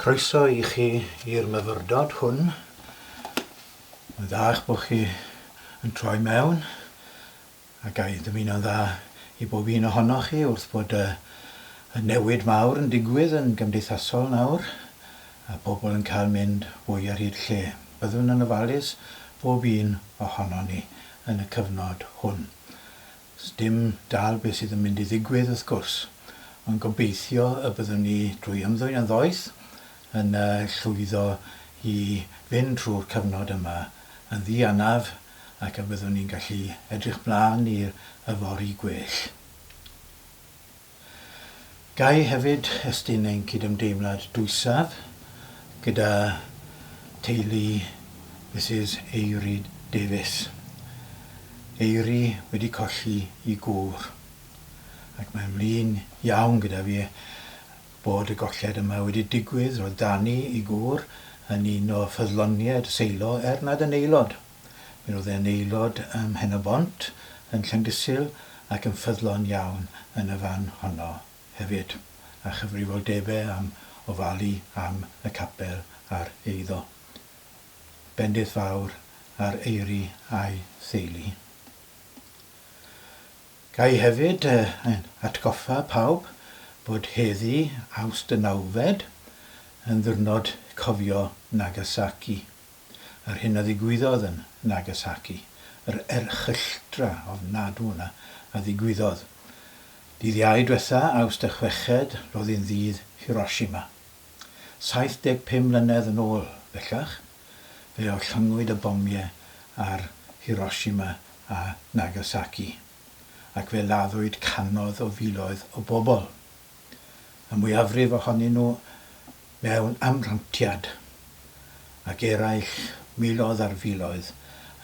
Croeso i chi i'r myfyrdod hwn. Mae'n dda eich bod chi yn troi mewn a ga i ddymuno'n dda i bob un ohonoch chi wrth bod y y newid mawr yn digwydd yn gymdeithasol nawr a pobl yn cael mynd fwy ar hyd lle. Byddwn yn ofalus, bob un ohonon ni, yn y cyfnod hwn. Sdim dal beth sydd yn mynd i ddigwydd wrth gwrs, ond gobeithio y byddwn ni drwy ymddwyn yn ddoeth yn llwyddo i fynd trwy'r cyfnod yma yn ddianaf ac y byddwn ni'n gallu edrych mlaen i'r yfory gwell. Ga i hefyd estyn ein cydymdeimlad dwysaf gyda theulu Misus Eiry Davies. Eiry wedi colli i gŵr, ac mae'n flin iawn gyda fi bod y golled yma wedi digwydd. Roedd Danny, i gŵr, yn un o ffyddloniaid y seilo, er nad yn aelod. Mi roedd e'n aelod ym Mhen-y-bont, yn Llandysul ac yn ffyddlon iawn yn y fan honno hefyd, a chyfrifoldebau am ofalu am y capel a'r eiddo. Bendith fawr ar Eiri a'i theulu. Ga i hefyd atgoffa pawb bod heddi, Awst y nawfed, yn ddiwrnod cofio Nagasaki. Yr hyn a ddigwyddodd yn Nagasaki, yr erchylltra ofnadw 'na a ddigwyddodd. Dydd Iau dwetha, Awst y chweched, ro'dd 'i'n ddydd Hiroshima. 75 mlynedd yn ôl, bellach, fe orllynngwyd y bomie ar Hiroshima a Nagasaki, ac fe laddwyd canodd o filoedd o bobol. y mwyafrif ohonyn nhw mewn amrantiad, ac eraill, miloedd ar filoedd,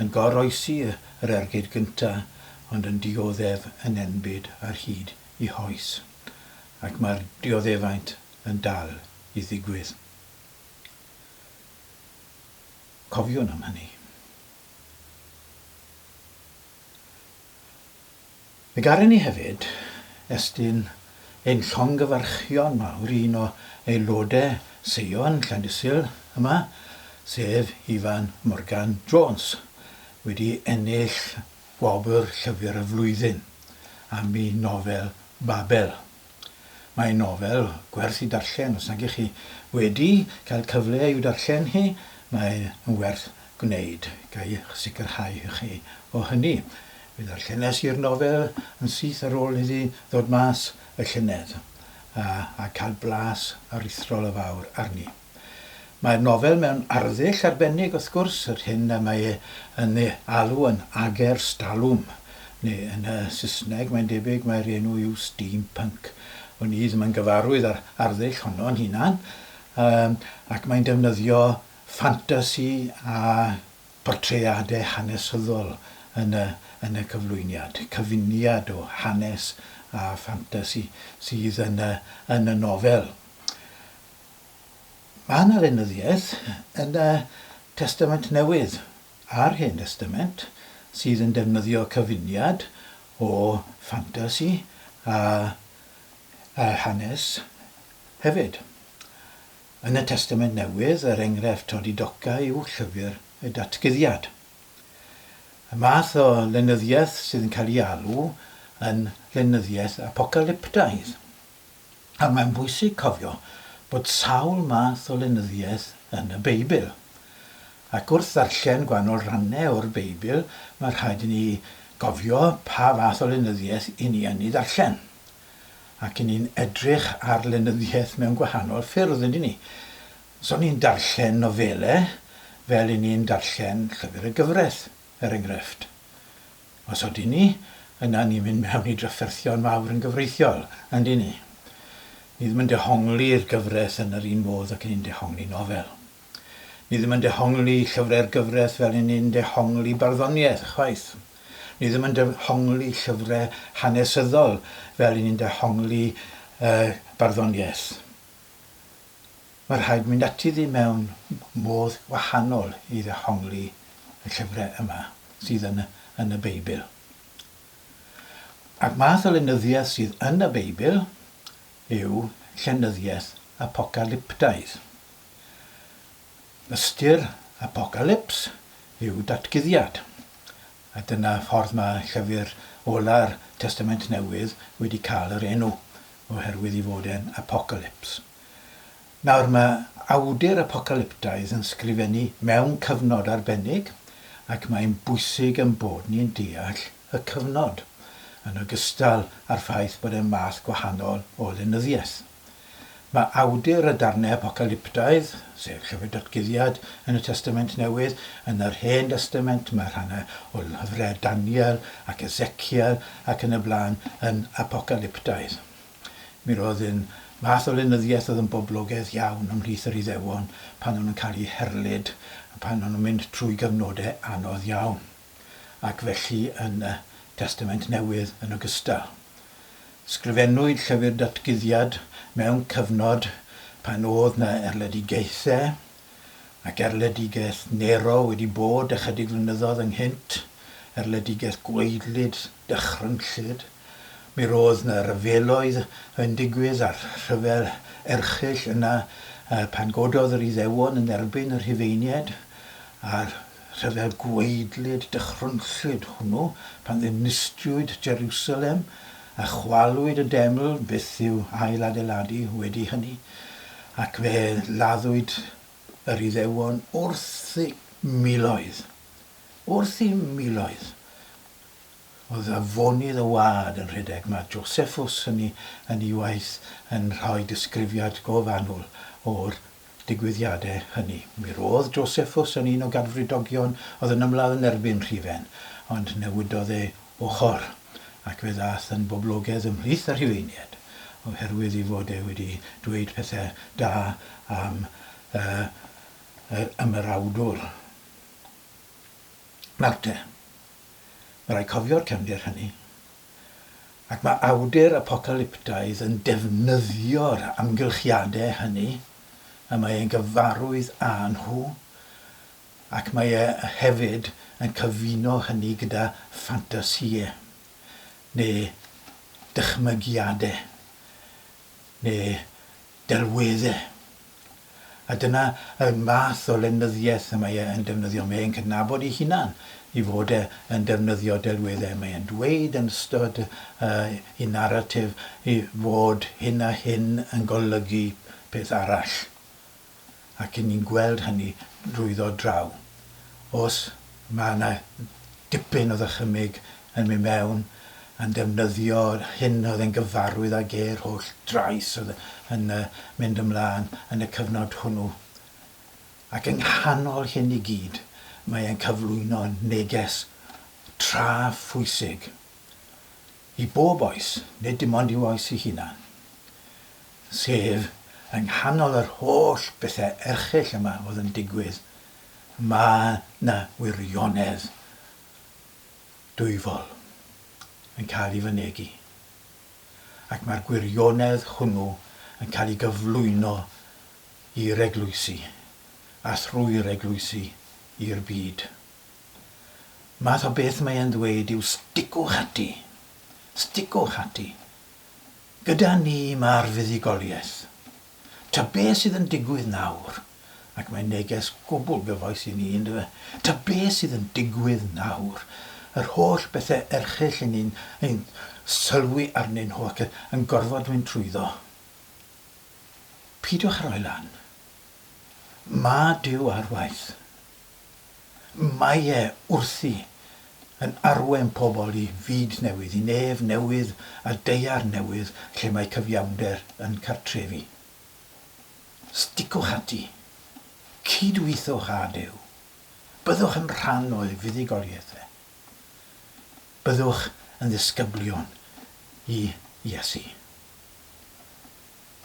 yn goroesi yr ergyd gyntaf ond yn dioddef yn enbyd ar hyd eu hoes. Ac mae'r dioddefaint yn dal i ddigwydd. Cofiwn am hynny. Fe gâren ni hefyd estyn ein llongyfarchion mawr i un o aelodau seion Llandysul yma, sef Ifan Morgan Jones, wedi ennill Gwobr Llyfr y Flwyddyn am ei nofel Babel. Mae'n nofel gwerth i darllen, os nag ych chi wedi cael cyfle i'w darllen hi, mae yn werth gwneud, ga i'ch sicrhau chi o hynny. Fe ddarllenes i'r nofel yn syth ar ôl iddi ddod mas y llynedd, a cael blas aruthrol o fawr arni. Mae'r nofel mewn arddull arbennig wrth gwrs, yr hyn y mae e yn ei alw yn agerstalwm, neu yn y Saesneg mae'n debyg mai'r enw yw steampunk. Wn i ddim yn gyfarwydd â'r arddull honno'n hunan, yym, ac mae'n defnyddio ffantasi a portreadau hanesyddol yn y yn y cyflwyniad, cyfuniad o hanes a ffantasi sydd yn y yn y nofel. Mae yna lenyddiaeth yn y Testament Newydd a'r Hen Destament sydd yn defnyddio cyfuniad o ffantasi a hanes hefyd. Yn y Testament Newydd, yr enghraifft Todi Doca yw llyfr y Datguddiad. Y math o lenyddiaeth sydd yn cael ei alw yn lenyddiaeth apocalyptaidd. A mae'n bwysig cofio bod sawl math o lenyddiaeth yn y Beibl. Ac wrth ddarllen gwahanol rannau o'r Beibl, mae rhaid i ni gofio pa fath o lenyddiaeth i ni yn ei ddarllen. Ac i ni'n edrych ar lenyddiaeth mewn gwahanol ffyrdd, ydyn ni? Os o'n ni'n darllen nofelau, fel i ni'n darllen llyfr y gyfraith, er enghraifft. Os odyn ni, yna ni'n mynd mewn i drafferthion mawr yn gyfreithiol, yndyn ni? Ni ddim yn dehongli'r gyfres yn yr un modd ac ni'n dehongli nofel. Ni ddim yn dehongli llyfrau'r gyfres fel y ni'n dehongli barddoniaeth, chwaith. Ni ddim yn dehongli llyfrau hanesyddol fel y ni'n dehongli yy barddoniaeth. Mae rhaid mynd ati ddi mewn modd gwahanol i ddehongli y llyfrau yma sydd yn yn y Beibl. A'r math o lenyddiaeth sydd yn y Beibl yw llenyddiaeth apocalyptaidd. Ystyr apocalyps yw datguddiad, a dyna ffordd mae llyfr ola'r Testament Newydd wedi cael yr enw, oherwydd ei fod e'n apocalyps. Nawr, mae awdur apocalyptaidd yn sgrifennu mewn cyfnod arbennig, ac mae'n bwysig ein bod ni'n deall y cyfnod, yn ogystal â'r ffaith bod e'n fath gwahanol o lenyddiaeth. Mae awdur y darnau apocalyptaidd, sef Llyfr Datguddiad yn y Testament Newydd, yn yr Hen Destament, mae rhannau o lyfrau Daniel ac Ezekiel ac yn y blaen yn apocalyptaidd. Mi roedd yn fath o lenyddiaeth oedd yn boblogaidd iawn ymhlith yr Iddewon pan o'n nhw'n cael eu herlid a pan o'n nhw'n mynd trwy gyfnodau anodd iawn, ac felly yn y Testament Newydd yn ogystal. Sgrifennwyd Llyfr Datguddiad mewn cyfnod pan oedd 'na erledigaethau ac erledigaeth Nero wedi bod ychydig flynyddoedd ynghynt, erledigaeth gwaedlyd, dychrynllyd. Mi roedd 'na ryfeloedd yn digwydd a'r rhyfel erchyll yna pan gododd yr Iddewon yn erbyn y Rhufeiniaid a'r Rhyfel gwaedlyd dychrynllyd hwnnw pan ddinistriwyd Jerusalem a chwalwyd y deml byth i'w ail-adeiladu wedi hynny, ac fe laddwyd yr Iddewon wrth eu miloedd. Wrth eu miloedd! Oedd afonydd y wlad yn rhedeg. Mae Josephus yn ei waith yn rhoi disgrifiad go fanwl o'r digwyddiadau hynny. Mi roedd Josephus yn un o Gadfridogion oedd yn ymladd yn erbyn Rhufen, ond newidodd ei ochr, ac fe ddaeth yn boblogedd ymhlith y Rhufeiniaid, oherwydd ei fod e wedi dweud pethau da am yr ymerawdwr Marthe. Mae'n rhaid cofio'r cefndir hynny. Ac mae awdur apocalyptaidd yn defnyddio'r amgylchiadau hynny y mae e'n gyfarwydd â nhw, ac mae e hefyd yn cyfuno hynny gyda ffantasïau, neu dychmygiadau, neu delweddau. A dyna y math o lenyddiaeth y mae e yn defnyddio. Mae e'n cydnabod ei hunan ei fod e yn defnyddio delweddau. Mae e'n dweud yn ystod ei naratif ei fod hyn a hyn yn golygu peth arall. ac i ni'n gweld hynny drwyddo draw. Os mae yna dipyn o ddychymyg yn mynd mewn, yn ddefnyddio'r hyn oedd e'n gyfarwydd ag e, yr holl drais oedd yn mynd ymlaen yn y cyfnod hwnnw. Ac yng nghanol hyn i gyd, mae e'n cyflwyno neges tra phwysig. I bob oes, nid dim ond i'w oes ei hunan. Sef, yng nghanol yr holl bethe erchyll yma oedd yn digwydd, mae 'na wirionedd dwyfol yn cael ei fynegi. Ac mae'r gwirionedd hwnnw yn cael ei gyflwyno i'r eglwysi, a thrwy'r eglwysi, i'r byd. Math o beth mae e'n ddweud yw sticwch ati. Sticwch ati. Gyda ni mae'r fuddugoliaeth. Ta be sydd yn digwydd nawr, ac mae'n neges gwbl gyfoes i ni, yn dyfe, ta be sydd yn digwydd nawr, yr holl bethe erchyll i ni'n ein sylwi arnyn nhw ac yn gorfod mynd trwyddo, peidiwch a rhoi lan. Mae Duw ar waith. Mae e wrthi yn arwain pobl i fyd newydd, i nef newydd a daear newydd lle mae cyfiawnder yn cartrefu. Sticwch ati. Cydweithiwch â Duw. Byddwch yn rhan o'i fuddugoliaeth e. Byddwch yn ddisgyblion i Iesu.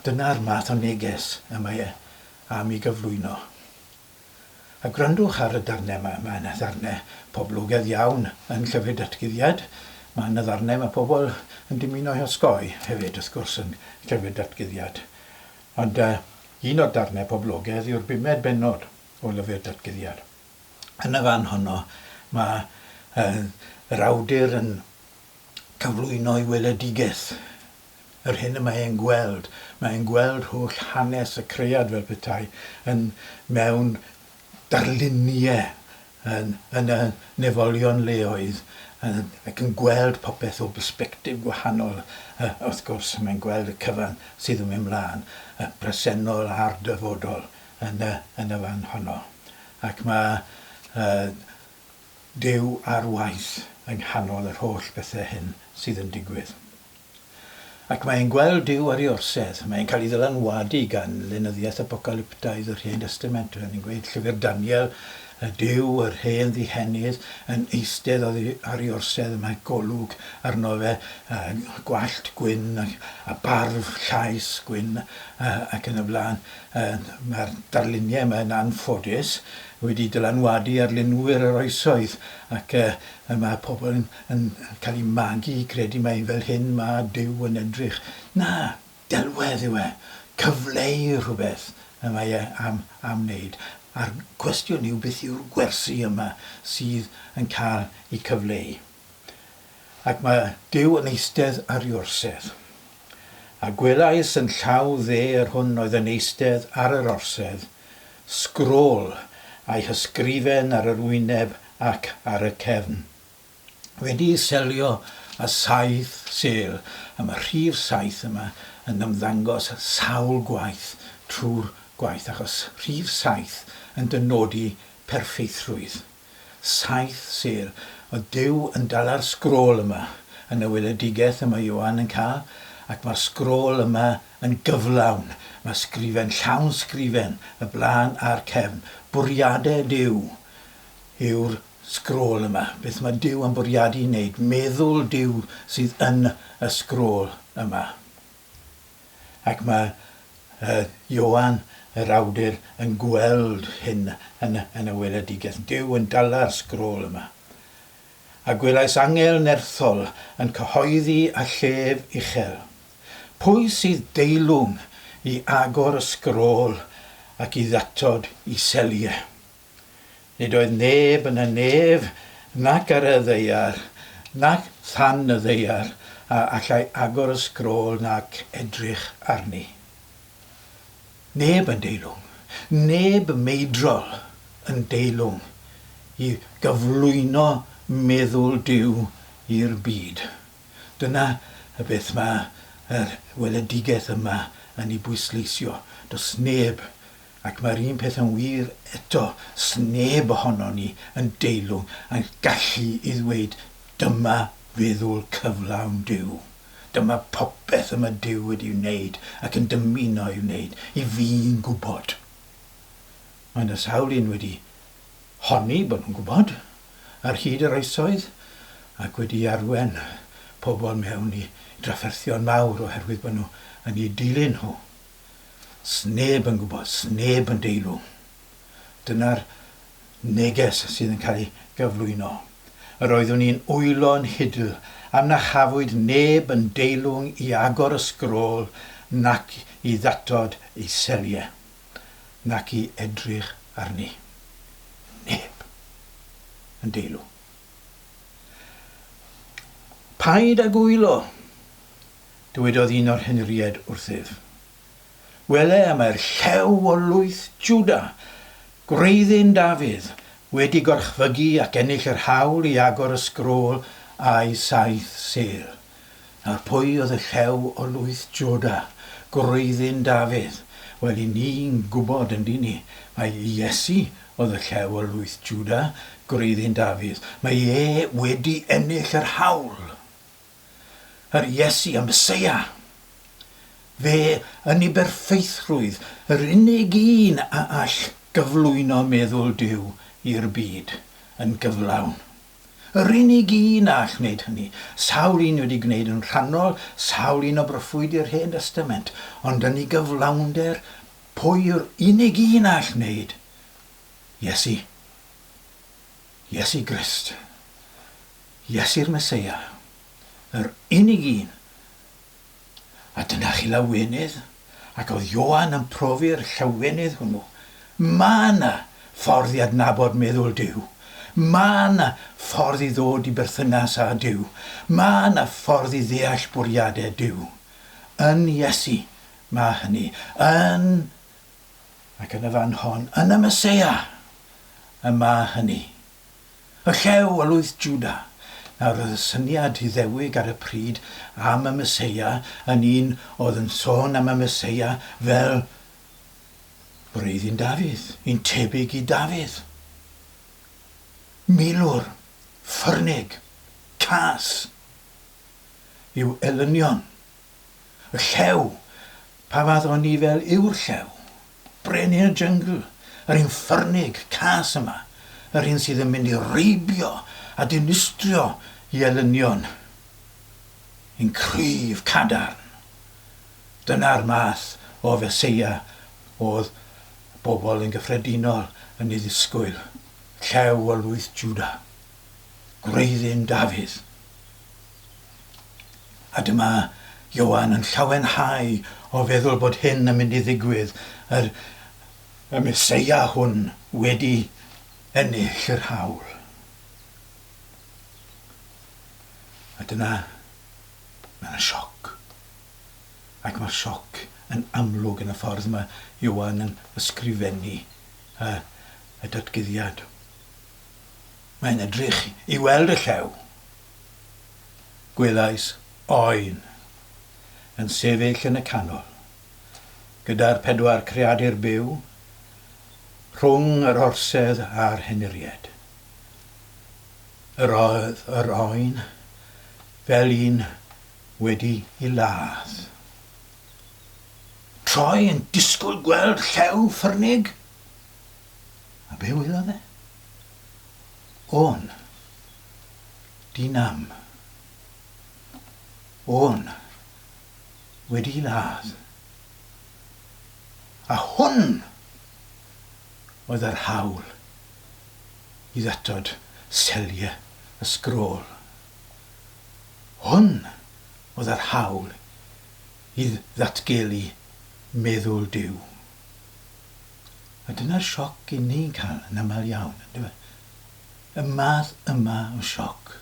Dyna'r math o neges y mae e am ei gyflwyno. A gwrandwch ar y darnau yma. Mae yna ddarnau poblogaidd iawn yn Llyfr Datguddiad. Mae yna ddarnau mae pobl yn dymuno ei osgoi hefyd, wrth gwrs, yn Llyfr Datguddiad. Ond uh, un o'r darnau poblogaidd yw'r bumed bennod o Lyfr Datguddiad. Yn y fan honno, mae uh, yr awdur yn cyflwyno ei weledigaeth yr hyn y mae e'n gweld, mae e'n gweld holl hanes y cread fel petai yn mewn darlunie yn yn y nefolion leoedd yn ac yn gweld popeth o bersbectif gwahanol yy wrth gwrs mae'n gweld y cyfan sydd yn mynd mlan, y presennol a'r dyfodol yn y yn y fan honno ac mae yy Duw ar waith yng nghanol yr holl bethe hyn sydd yn digwydd. Ac mae e'n gweld Duw ar ei orsedd. Mae e'n cael ei ddylanwadu gan lenyddiaeth apocalyptaidd yr Hen Destament. Fel ni'n gweud, llyfr Daniel, y Duw, yr hen ddihennydd, yn eistedd oddi ar ei orsedd a mae golwg arno fe, a gwallt gwyn a, a barf llaes gwyn a, ac yn y blaen. E, mae'r darluniau yma yn anffodus wedi dylanwadu ar linwyr yr oesoedd ac e, mae pobl yn yn cael ei magu i gredu mai fel hyn mae Duw yn edrych. Na, delwedd yw e, cyfleu rhywbeth y mae e am am wneud, a'r cwestiwn yw beth yw'r gwersi yma sydd yn cael eu cyfleu. Ac mae Duw yn eistedd ar ei orsedd. A gwelais yn llaw dde yr hwn oedd yn eistedd ar yr orsedd, sgrôl a'i hysgrifen ar yr wyneb ac ar y cefn. wedi selio a saith sêl am y rhif saith yma yn ymddangos sawl gwaith trwy'r gwaith achos rhif saith yn dynodi perffeithrwydd. Saith sêl o Duw yn dala'r sgrôl yma yn y weledigaeth y mae Ioan yn cael ac mae'r sgrôl yma yn gyflawn, mae sgrifen llawn sgrifen y blaen a'r cefn, bwriadau Duw yw'r Sgrôl yma. Beth mae Duw yn bwriadu wneud? Meddwl Duw sydd yn y sgrôl yma. Ac mae yy Ioan, yr awdur, yn gweld hyn yn y yn y weledigaeth. Duw yn dala'r sgrôl yma. A gwelais angel nerthol yn cyhoeddi â llef uchel, Pwy sydd deilwng i agor y sgrôl ac i ddatod i seliau? Nid oedd neb yn y nef, nac ar y ddaear, nac than y ddaear, a allai agor y sgrôl nac edrych arni. Neb yn deilwng, neb meidrol yn deilwng i gyflwyno meddwl Duw i'r byd. Dyna beth mae yr weledigaeth yma yn ei bwysleisio. Does neb Ac mae'r un peth yn wir eto, sneb ohonon ni yn deilwng yn gallu i ddweud dyma feddwl cyflawn Duw, dyma popeth y mae Duw wedi wneud ac yn dymuno ei wneud i fi'n gwybod. Mae 'na sawl un wedi honni bod nhw'n gwybod ar hyd yr oesoedd ac wedi arwen pobl mewn i drafferthion mawr oherwydd bod nhw yn eu dilyn nhw. Sneb yn gwybod, sneb yn deilwng. Dyna'r neges sydd yn cael ei gyflwyno. Yr oeddwn i'n wylo yn hidl am na chafwyd neb yn deilwng i agor y sgrôl nac i ddatod ei seliau, nac i edrych arni. Neb yn deilwng. Paid ag wylo! dywedodd un o'r henried wrthyf, Wele, mae'r Llew o lwyth Jwda, gwreiddyn Dafydd, wedi gorchfygu ac ennill yr hawl i agor y sgrôl â'i saith sêl. Nawr, pwy oedd y Llew o lwyth Jwda, gwreiddyn Dafydd? Wel, 'yn ni'n gwybod, yn 'dyn ni, mai Iesu oedd y Llew o lwyth Jwda, gwreiddyn Dafydd. Mae e wedi ennill yr hawl! yr Iesu a Meseia. Fe yn ei berffeithrwydd, yr unig un a all gyflwyno meddwl Duw i'r byd yn gyflawn. Yr unig un a all wneud hynny. Sawl un wedi gwneud yn rhannol, sawl un o broffwydi'r Hen Destament, ond yn ei gyflawnder, pwy yw'r unig un a all wneud? Iesu. Iesu Grist, Iesu'r Meseia, yr unig un! A dyna chi lawenydd, ac oedd Ioan yn profi'r llawenydd hwnnw. Ma' 'na ffordd i adnabod meddwl Duw. Ma' 'na ffordd i ddod i berthynas â Duw. Ma' 'na ffordd i ddeall bwriadau Duw. Yn Iesu, ma' hynny. Yn ac yn y fan hon, yn y Meseia, y mae hynny. Y llew, y lwyth Juda. Nawr, oedd y syniad Iddewig ar y pryd am y Meseia yn un oedd yn sôn am y Meseia fel wreiddyn Dafydd, un tebyg i Dafydd. Milwr, ffyrnig, cas, i'w elynion. Y Llew! Pa fath o nifel yw'r Llew? Brenin y Jungle! Yr un ffyrnig, cas yma! Yr un sydd yn mynd i reibio a dinistrio i elynion i'n cryf cadarn! Dyna'r math o Feseia oedd pobl yn gyffredinol yn ei ddisgwyl, Llew o lwyth Jwda, gwreiddyn Dafydd! A dyma Ioan yn llawenhau o feddwl bod hyn yn mynd i ddigwydd, yr y Meseia hwn wedi ennill yr haul. A dyna mae yna sioc. Ac mae'r sioc yn amlwg yn y ffordd mae Ioan yn ysgrifennu y, y datguddiad. Mae'n edrych i weld y llew. Gwelais Oen yn sefyll yn y canol, gyda'r pedwar creadur byw, rhwng yr orsedd a'r henuried. Yr oedd yr Oen fel un wedi'i ladd. Troi yn disgwyl gweld llew ffyrnig? A be wylodd e? Oen. Dyn am. O'n. Wedi ladd. A hwn oedd yr hawl i ddatod selie y sgrôl. Hwn oedd yr hawl i ddatgelu meddwl Duw. A dyna'r sioc 'yn ni'n cael yn aml iawn, yndyfe? y math yma o sioc.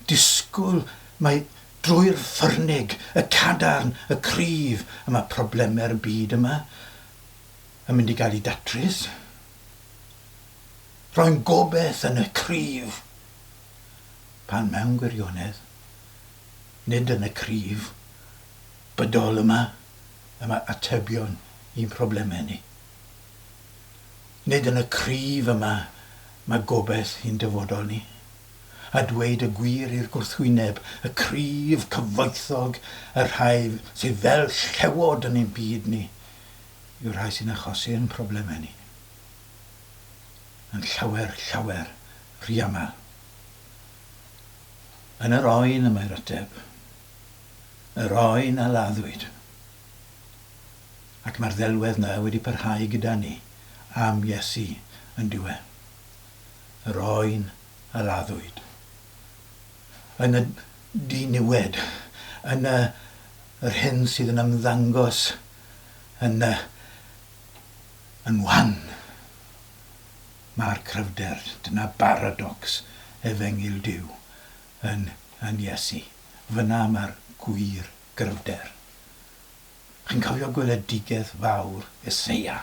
Disgwyl mai drwy'r ffyrnig, y cadarn, y cryf y mae problemau'r byd yma yn mynd i gael eu datrys. Rhoi'n gobaith yn y cryf, pan mewn gwirionedd, nid yn y cryf bydol yma y mae atebion i'n problemau ni. Nid yn y cryf yma mae gobaith i'n dyfodol ni. A dweud y gwir i'r gwrthwyneb, y cryf cyfoethog, y rhai sydd fel llewod yn ein byd ni, yw'r rhai sy'n achosi ein problemau ni. Yn llawer, llawer rhy aml. Yn yr oen y mae'r ateb. Yr oen a laddwyd. ac mae'r ddelwedd 'na wedi parhau gyda ni am Iesu yndyw e? Yr oen a laddwyd yn y diniwed, yn y yr hyn sydd yn ymddangos yn y yn wan. Ma'r cryfder, dyna baradocs efengyl Duw, yn yn Iesu. Fyna ma'r gwir gryfder. Chi'n cofio gweledigaeth fawr Eseia,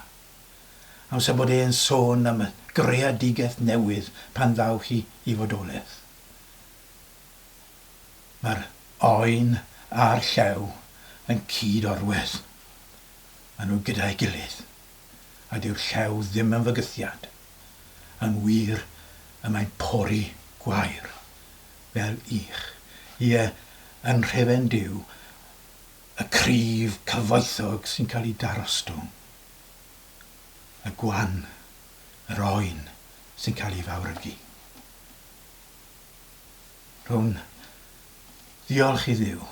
amser bod e'n sôn am y greadigaeth newydd pan ddaw hi i fodolaeth? Mae'r oen a'r llew yn cyd-orwedd. Maen nhw gyda'i gilydd. A dyw'r llew ddim yn fygythiad. Yn wir, y mae'n pori gwair, fel ych. Ie, yn nhrefn Duw, y cryf cyfoethog sy'n cael ei darostwng, y gwan, yr oen sy'n cael ei fawrygu. Rhwn ddiolch i Dduw,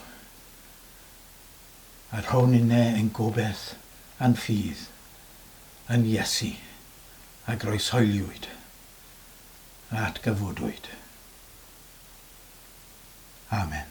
a rhwn inne ein gobaith a'n ffydd yn Iesu a groeshoeliwyd a atgyfodwyd. Amen.